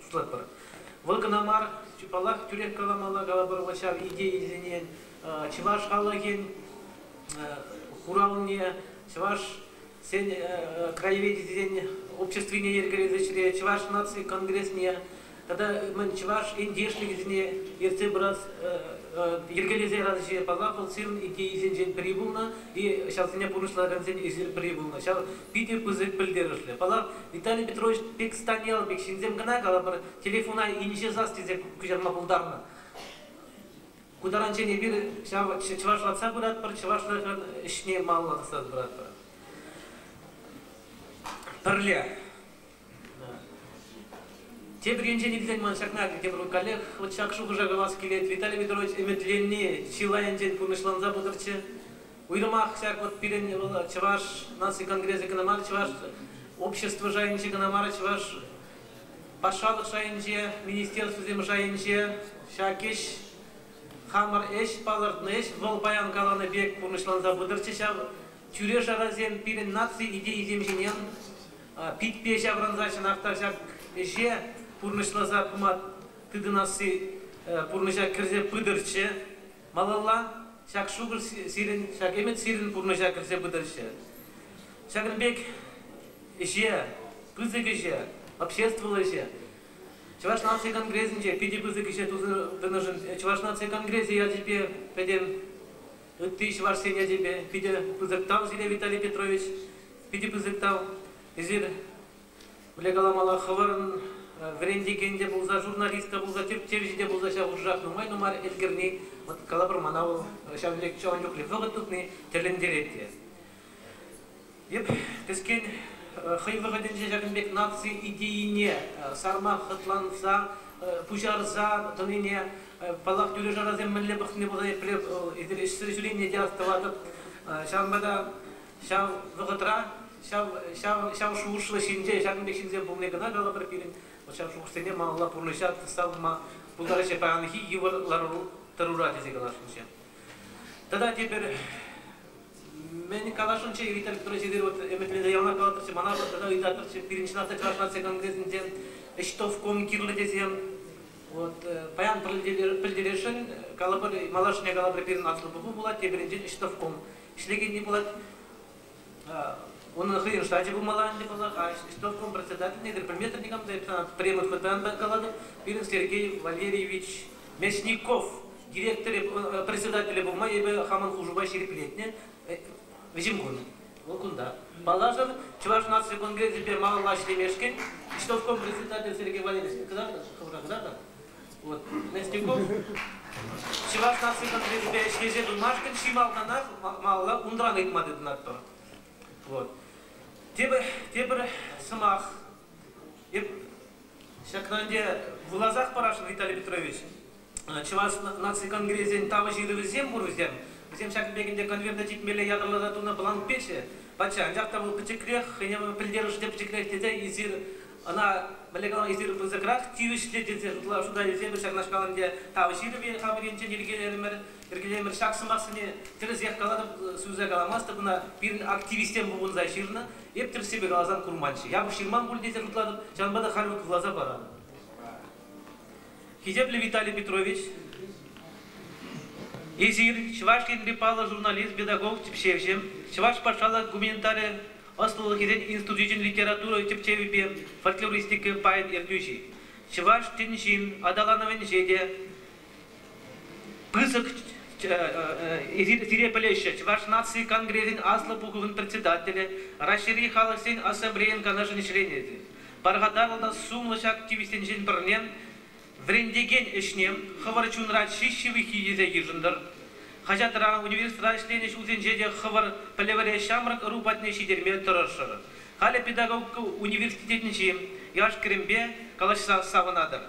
шутлатпӑр. Вӑл кӑна мар, паллах, тӳрех каламалла калӑпӑр, вот ҫав идейӑсене чӑваш халӑхӗн хуравне, чӑваш краеведенин обществине йӗркелес ӗҫре чӑваш наци конгресне тата мӗн чӑваш ентешлӗхӗсене ертсе пырас йӗркелесе ярас ӗҫе паллах вӑл сирӗн идейисенчен пӗри пулнӑ и ҫавсене пурнӑҫлакансен эсир пӗри пулнӑ ҫав питӗ пысӑк пӗлтерӗшлӗ паллах Виталий Петрович пек стань ял пек ҫынсем кӑна калӑпӑр телефона инҫе сас тесе куҫарма пултарнӑ Ку таранччен эпир ҫав чӑвашлатса пыратпӑр, чӑвашлашӑн ӗҫне малалла тӑсса пыратпӑр. Пӗрле. Тепӗр енчен илсен ман ҫакна тепӗр коллег вот ҫак шухӑша калас килет. Виталий Петрович ӗмӗтленни чылайӗнчен пурнӑҫланса пытӑрччӗ. Уйрӑмах ҫак вот пирӗн вӑл Чӑваш наци конгресӗ кӑна мар, Чӑваш общество шайӗнче кӑна мар, Чӑваш патшалӑх шайӗнче, министерствӑсем шайӗнче ҫак ӗҫ хамӑр ӗҫ палӑртнӑ ӗҫ. Вӑл паян каланӑ пек пурнӑҫланса пытӑрччӗ ҫав. Тӳре-шарасем пирӗн наци идейисем ҫине питпе ҫаврӑнса чӑнах та ҫак ӗҫе пурнӑҫласа пыма тытӑнасси пурнӑҫа кӗрсе пытӑрччӗ. Малалла ҫак шухӑш сирӗн, ҫак ӗмӗт сирӗн пурнӑҫа кӗрсе пытӑрччӗ. Ҫакӑн пек ӗҫе, пысӑк ӗҫе, обществӑллӑ ӗҫе Чӑваш наци конгресӗнче питӗ пысӑк ӗҫе туса тӑнӑшӑн Чӑваш наци конгресӗ ячӗпе пӗтӗм ытти чӑвашсен ячӗпе питӗ пысӑк тав сире, Виталий Петрович, питӗ пысӑк тав. Эсир Мӗнле каламалла, хӑвӑрӑн вӗрентекен те пулса, журналист та пулса, тӳртевҫӗ те пулса ҫав хушах нумай-нумай ӗлкӗрни, вот калӑпӑр мана вӑл ҫавӑн пек ҫавӑн чухлӗ вӑхӑт тытни тӗлӗнтерет те. Эп кӗскен хӑй вӑхӑтӗнче ҫакӑн пек наци идейине сарма хӑтланса пуҫарса тӑнине, паллах, тӳре-шарасем мӗнле пӑхни пулсан епле ӗҫсӗр ҫӳренине те астӑватӑп. Ҫавӑнпа та ҫав вӑхӑтра ҫав шухӑшлӑ ҫынсем, ҫакӑн пек ҫынсем пулни кӑна калӑпӑр пирӗн. Вӑл ҫав шухӑшсене малалла пурнӑҫа тӑсса пыма пултараҫҫӗ паянхи йывӑр лару-тӑрура тесе каласшӑнччӗ. Тата тепӗр мӗн каласшӑнччӗ Виталий Петрович эсир вот ӗмӗтленсе яланах калатӑрччӗ мана тата ыйтатӑрччӗ пирӗн чӑнах та Чӑваш наци конгресӗнчен ӗҫтовком кирлӗ тесем вот э, паян пӗлтересшӗн калӑпӑр малашне калӑпӑр пирӗн аслӑ пуху пулать тепринчен ӗҫтовком ӗҫлекенни пулать. Унӑн хӑйӗн штачӗ пулмалла ӗнтӗ паллах, исполком председательне предметр никам та юптанат премӑн хытан та каланӑ. Пирӗн Сергей Валерьевич Мечников директорӗ председателӗ пулма эпӗ хамӑн хушупа ҫирӗплетнӗ вӗҫӗм кунӗ. Вӑл кунта. Паллашӑр, Чӑваш наци конгресӗпе малалла ӗҫлемешкӗн исполком председатель Сергей Валерьевич кӑтартӑр, кӑтартӑр. Вот. Нестюков Чӑваш наци конгресӗпе ӗҫлесе тунашкӑн чи малтанах малалла унран ыйтма тытӑнатпӑр. Вот. Тепӗр, тепӗр сӑмах. Эп ҫакна ӗнтӗ вуласах парашӑн Виталий Петрович. Чӑваш наци конгресӗн тав ҫырӑвӗсем пур вӗсем. Вӗсем ҫакӑн пек ӗнтӗ конверта типмелле ятарласа тунӑ бланкпечӗ. Патша, анчах та вӑл пӗчӗкрех, хӑйне пӗлтерӗшӗ те пӗчӗкрех тесе эсир Ӑна мӗнле калама эсир пысӑкрах тивӗҫлӗ тесе ытла шута илсемӗр ҫакнашкал ӗнтӗ тав ҫырӑвӗ хамӑр енчен йӗркелерӗмӗр. Йӗркелерӗмӗр ҫак сӑмахсене тӗрӗсех калатӑп, сӳнсе каламастӑп ӑна. Пирӗн активистсем пухӑнса ҫырнӑ. Эп тӗрӗссипе каласан курманччӗ. Япӑх ҫырман пуль тесе шутлатӑп, ҫавӑнпа та халь вӑйласа паранӑ. Хисеплӗ Виталий Петрович, эсир Чӑваш Енри паллӑ журналист, педагог, тӗпчевҫӗ, Чӑваш патшалӑх гуманитари ӑслӑлӑхӗсен институчӗн литература тӗпчевӗпе фольклористика пайӗн ертӳҫи, чӑваш тӗн ҫын аталанӑвӗнче те пысӑк сире пӗлеҫҫӗ Чӑваш наци конгресӗн Аслӑ Пухӑвӗн председателӗ, Раҫҫейри халӑхсен ассамблейин канашӗн членӗ. Пархатарлӑ та сумлӑ ҫак тивӗҫсенчен пӗрне Вӗрентекен ӗҫне хӑвӑр чунра чи ҫывӑххи тесе йышӑнтӑр. Хаҫатра, университетра ӗҫленӗ ҫулсенче те хӑвӑр пӗлӗвӗре ҫамрӑк ӑру патне ҫитерме тӑрӑшӑр. Халӗ педагогика университетӗнчи яш-кӗрӗмпе калаҫса савӑнатӑр.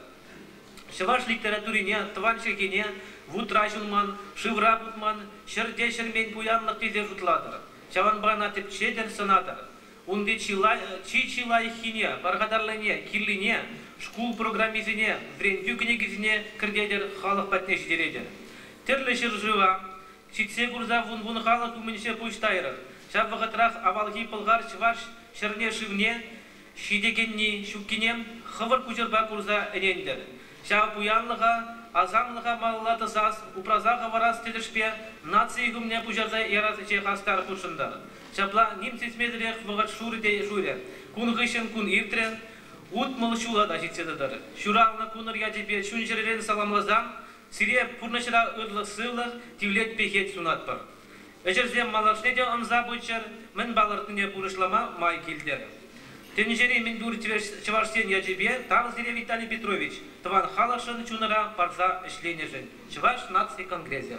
Чӑваш литературине тӑван чӗлхене вутра ҫунман, шывра путман, ҫӗрте ҫӗрмен пуянлӑх тесе шутлатӑр. Ҫавӑнпа ӑна тӗпчетӗр, сӑнатӑр. Унти чи чи лайӑххине, пархатарлине, кирлине, шкул программисене, вӗрентӳ кӗнекисене кӗртетӗр, халӑх патне ҫитеретӗр. Тӗрлӗ ҫӗршыва ҫитсе курса вун-вун халӑх умӗнче пуҫ тайрӑр. Ҫав вӑхӑтрах авалхи пӑлхар-чӑваш ҫӗрне-шывне ҫитекенни ҫуккине хӑвӑр куҫӑрпа курса ӗнентӗр. Ҫав пуянлӑха, асамлӑха малалла тӑсас, упраса хӑварас тӗлӗшпе наци ӳкӗмне пуҫарса ярас ӗҫе хастар хутшӑнтӑр. Ҫапла ним сисмесӗрех вӑхӑт шурӗ те шурӗ. Кун хыҫҫӑн кун иртрӗ. Утмӑл ҫула та ҫитсе тӑтӑр. Ҫуралнӑ кунӑр ячӗпе чун-чӗререн саламласан, сире пурнӑҫра ырлӑх-сывлӑх, тивлет-пехет сунатпӑр. Ӗҫӗрсем малашне те ӑнса пыччӑр, мӗн палӑртнине пурнӑҫлама май килтӗр. Тӗнчери мӗнпур чӑваш ен ячӗпе тав сире Виталий Петрович тӑван халӑхшӑн чунӑра парса ӗҫленӗшӗн, Чӑваш наци конгресӗ.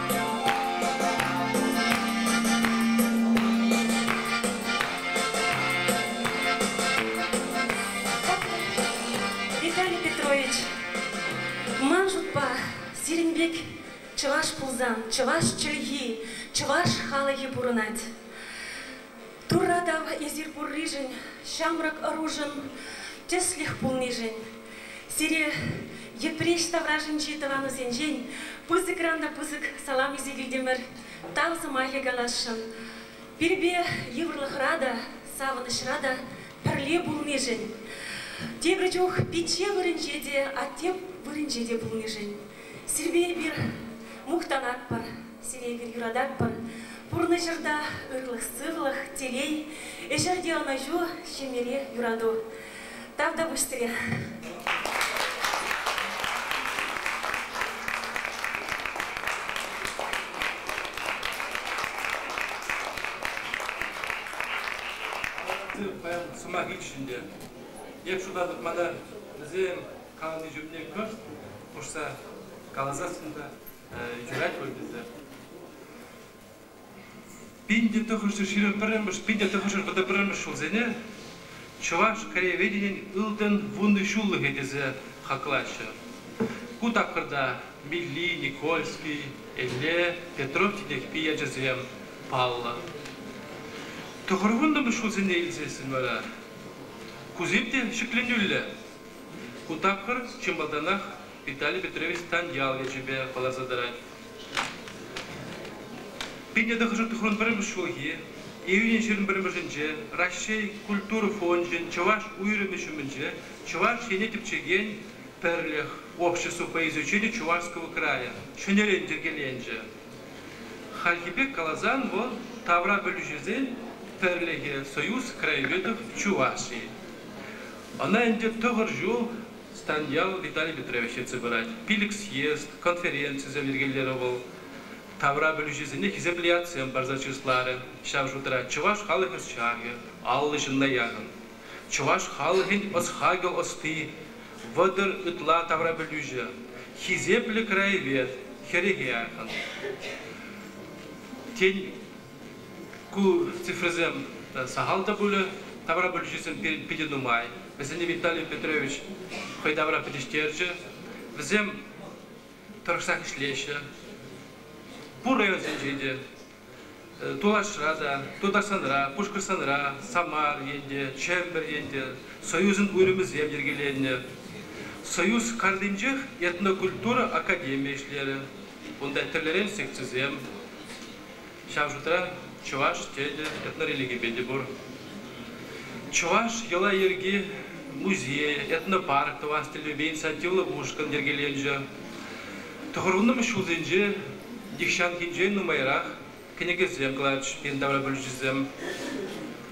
Виталий Петрович, ман шутпа, сирӗн пек чӑваш пулсан чӑваш чӗлхи, чӑваш халӑхӗ пурӑнать. Турра тав эсир пурришӗн, ҫамрӑк ӑрушӑн тӗслӗх пулнишӗн. Сире Йӗпреҫ таврашӗнчи тӑванусенчен пысӑкран та пысӑк салам илсе килтӗмӗр, тав сӑмахӗ каласшӑн. Пирпе йывӑрлӑхра та, савӑнӑҫра та пӗрле пулнишӗн, тепӗр чух пичче вырӑнче те, атте вырӑнче те пулнишӗн. Сирпе эпир мухтанатпӑр, сире эпир юрататпӑр. Пурнӑҫӑрта ырлӑх-сывлӑх, телей, ӗҫӗрте ӑнӑҫу, ҫемьере юрату. Тав та пуҫ сире! Паян сӑмах икҫӗ ӗнтӗ. Эп шутатӑп, мана вӗсем каланӑ чухне кӑшт хушса каласассӑн та юрать пуль тесе. Пин те тӑхӑршӗ ҫырӑн пӗрремӗш, пин те тӑхӑршӗ вӑтӑ пӗрремӗш ҫулсене чӑваш краеведенин ылтӑн вуннӑ ҫуллӑхӗ тесе хаклаҫҫӗ. Ку тапхӑрта Милли, Никольский, Элле, Петров Титехпи ячӗсем паллӑ. Тӑхӑрвуннӑмӗш ҫулсене илсессӗн вара кусем те ҫӗкленӳллӗ Ку тапхӑр чи малтанах Виталий Петрович тан ял ячӗпе паллашса тӑрать. Пинне тӑхӑршар тӑхӑрӑн пӗрремӗш ҫулхи, июньӑн ҫирӗм пӗрремӗшӗнче Раҫҫей культура фончӗн чӑваш уйрӑмӗ ҫумӗнче Чӑваш Ене тӗпчекен пӗрлӗх общество по изучению Чувашского края ҫӗнӗрен йӗркеленчӗ. Хальхи пек каласан вӑл тавра пӗлӳҫӗсен пӗрлӗхӗ Союз краеведов Чувашии. Ӑна ӗнтӗ тӑхӑр ҫул Станьял Виталий Петрович ертсе пырать. Пилӗк съезд, конференцисем йӗркелерӗ вӑл. Тавра пӗлӳҫӗсене хисеплӗ ятсем парса чысларӗ. Ҫав шутра чӑваш халӑх ӑсчахӗ, аллӑ ҫынна яхӑн. Чӑваш халӑхӗн ӑс-хакӑл ӑсти, вӑтӑр ытла тавра пӗлӳҫӗ, хисеплӗ краевед, хӗрӗхе яхӑн. Тен, Ку цифрӑсем сахал та пулӗ. Тавра пӗлӳҫӗсем питӗ нумай. Вӗсене Виталий Петрович хӑй тавра пӗтӗҫтерчӗ. Вӗсем тӑрӑшсах ӗҫлеҫҫӗ. Пур районсенче те, Тулашра та, Тутарстанра, Пушкӑртстанра, Самар енте, Чемпӗр енте союзӑн уйрӑмӗсем йӗркеленнӗ. Союз картинчех этнокультура академи ӗҫлерӗ. Унта тӗрлӗрен секцисем, ҫав шутра чӑваш тӗлӗ этнорелигипе те пур. Чӑваш йӑла-йӗрки музей, этнопарк тӑвас тӗллевпе инициативлӑ ушкӑн йӗркеленчӗ. Тӑхӑрвуннӑмӗш ҫулсенче нихҫанхинчен нумайрах кӗнекесем кӑларчӗҫ пирӗн таврапӗлӳҫӗсем.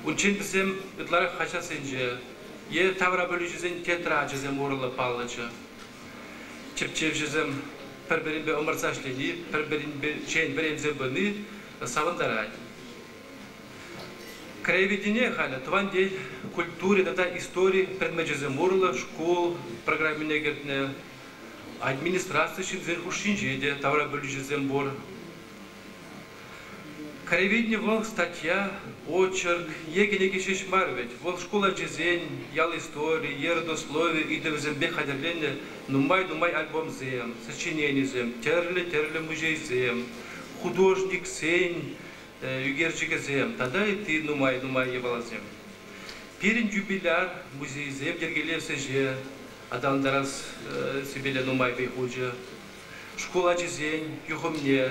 Унччен вӗсем ытларах хаҫатсенче е таврапӗлӳҫӗсен тетрачӗсем урлӑ паллӑччӗ. Тӗпчевҫӗсем пӗр-пӗринпе ӑмӑртса ӗҫлени, пӗр-пӗринчен вӗренсе пыни савӑнтарать. Краеведение халӗ тӑван ен культури тата истори предмечӗсем урлӑ шкул программине кӗртнӗ. Администраци ҫынсен хушшинче те таврапӗлӳҫӗсем пур. Краеведени вӑл статья, очерк е кӗнеке ҫеҫ мар вӗт, вӑл шкул ачисен ял истории е родослови ыйтӑвӗсемпе хатӗрленӗ нумай-нумай альбомсем, сочиненисем, тӗрлӗ-тӗрлӗ музейсем, художниксен ӳкерчӗкӗсем тата ытти нумай-нумай япаласем. Пирӗн юбиляр музейсем йӗркелес ӗҫе аталантарас сипеле нумай вӑй хучӗ. Шкул ачисен юхӑмне,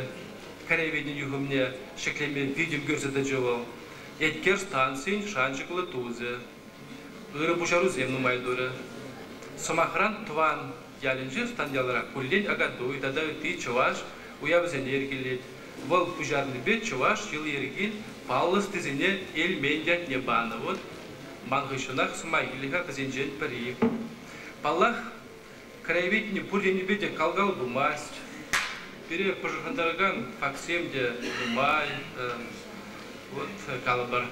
кӗревӗн юхӑмне ҫӗклеме витӗм кӳрсе тӑчӗ вӑл. Эткер станцийӗн шанчӑклӑ тусӗ. Ырӑ пуҫарусем нумай турӗ. Сӑмахран, тӑван ялӗнче станьялрах куллен Акатуй тата ытти чӑваш уявӗсене йӗркелет. Вӑл пуҫарнипе чӑваш йӑли-йӗрки паллӑ ӑстисене Эльмен ятне панӑ. Ман хыҫҫӑнах сӑмахилӗх-ха вӗсенчен пӗри. Паллах, краеведени пур енӗпе те кал-кал пымасть. Пире пӑшӑрхантаракан фактсем те нумай. Вот калӑпӑр,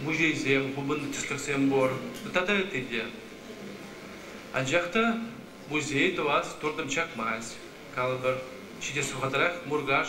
музейсем, хупӑннӑ тӗслӗхсем пур. Тата ытти те. Анчах та музей тӑвас туртӑм чакмасть. Калӑпӑр, ҫитес вӑхӑтрах Муркаш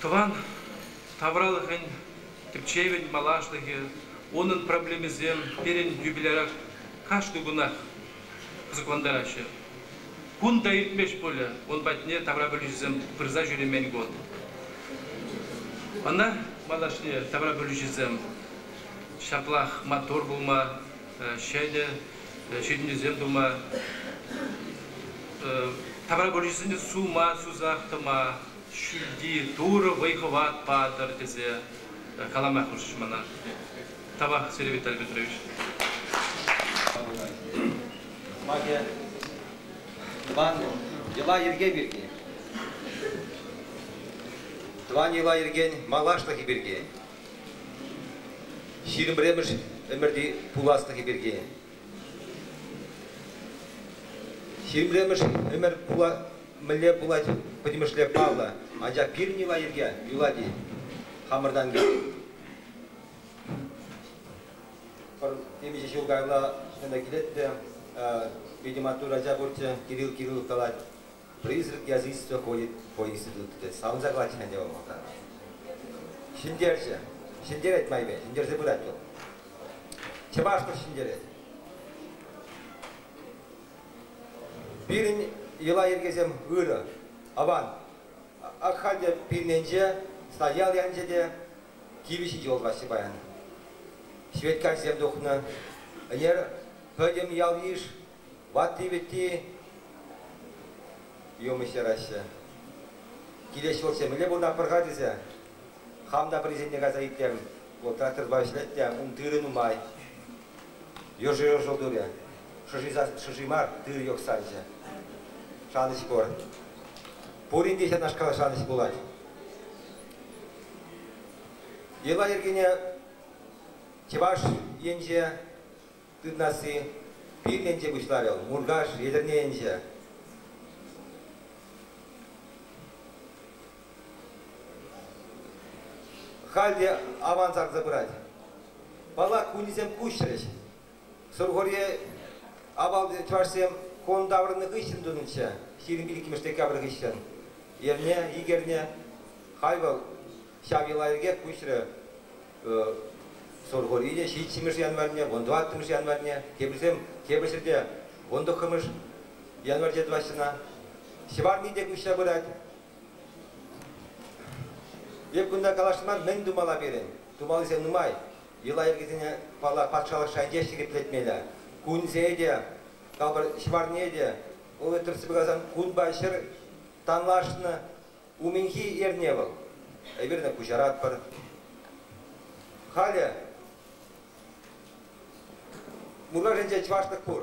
Тӑван тавралӑхӗн тӗпчевӗн малашлӑхӗ, унӑн проблемисем пирӗн юбиляра кашни кунах кӑсӑклантараҫҫӗ. Кун та иртмест пулӗ, ун патне таврапӗлӳҫӗсем пырса ҫӳремен кун. Ӑна малашне таврапӗлӳҫӗсем ҫаплах маттур пулма, ҫӗнӗ ҫитӗнӳсем тума, таврапӗлӳҫӗсене сума, сусах тӑма, Ҫӳлти Турӑ вӑй-хӑват патӑр тесе калама хушрӗҫ мана. Тавах, Сергей Виталий Петрович. Маке Иван йӑла-йӗрке пирки, тӑван йӑла-йӗркен малашлӑхӗ пирки, ҫирӗм пӗрремӗш ӗмӗрти пуласлӑхӗ пирки, ҫирӗм пӗрремӗш ӗмӗр пула Мӗнле пулать пӗтӗмӗшле паллӑ, анчах пирӗн йӑла-йӗрке юлать-и хамӑртан темиҫе ҫул каялла ӗҫлеме килет те питӗ маттур ача пурччӗ, Кирилл Кириллов калать, призрак язычества ходит по институту, тет. савӑнса калатчӗ ӗнтӗ вӑл малтан. Ҫӗнтерчӗ. Ҫӗнтерет майпе, ҫӗнтерсе пырать вӑл. Чӑвашлӑх ҫӗнтерет. Пирӗн йӑла-йӗркесем ырӑ. Аван. Ак халь те пирӗненче стоял янчӗ те кивӗ ҫити улталасси паян. Ҫветкайсем тухнӑ. Ӗнер пӗтӗм ял-йыш ватти-вӗтти юмӑҫ яраҫҫӗ. Килес ҫул темӗнле пулнӑ пӑр-ха тесе хам та пӗрисенне кайса итлем. Тракторпа ӗҫлет те ун тырӑ нумай. Йӑшӑ йӑшӑл турӗ. Шӑши мар, тырӑ йӑхсанчӗ. Шанӑҫ пур. Пурин те ҫакнашкал шанӑҫ пулать. Йӑла-йӗркене Чӑваш енче тытнасси пирленче пуҫларӗ вӑл, Муркаш, Етӗрне енче. Халь те аван сарса пырать. Паллах, кунӗсем куҫрӗҫ. Сурхури авалти чӑвашсем хон таврӑннӑ хыҫҫӑн тунӑччӗ, ҫирӗм иккӗмӗш декабрь хыҫҫӑн эрне икерне. Халь вӑл ҫав йӑла пирки куҫрӗ. Сурхури те ҫиччӗмӗш январьне, вун тӑваттӑмӗш январьне, теприсем тепӗр ҫӗрте вун тӑххӑмӗш январьте тӑваҫҫӗ ҫӑварни те куҫра пырать. Эп кунта калаҫма мӗн тумалла пирӗн? Тумаллисем нумай. Йӑла-йӗркесене патшалӑх шайӗнче ҫирӗплетмелле. Кунсене те, калпӑр, ҫӑварне те. Вӑл тӗртсе пырасан кунпа ҫӗр танлашнӑ. Умӗнхи эрне вӑл. Эпир куҫаратпӑр. Халӗ Муркашӗнче чӑвашлӑх пур.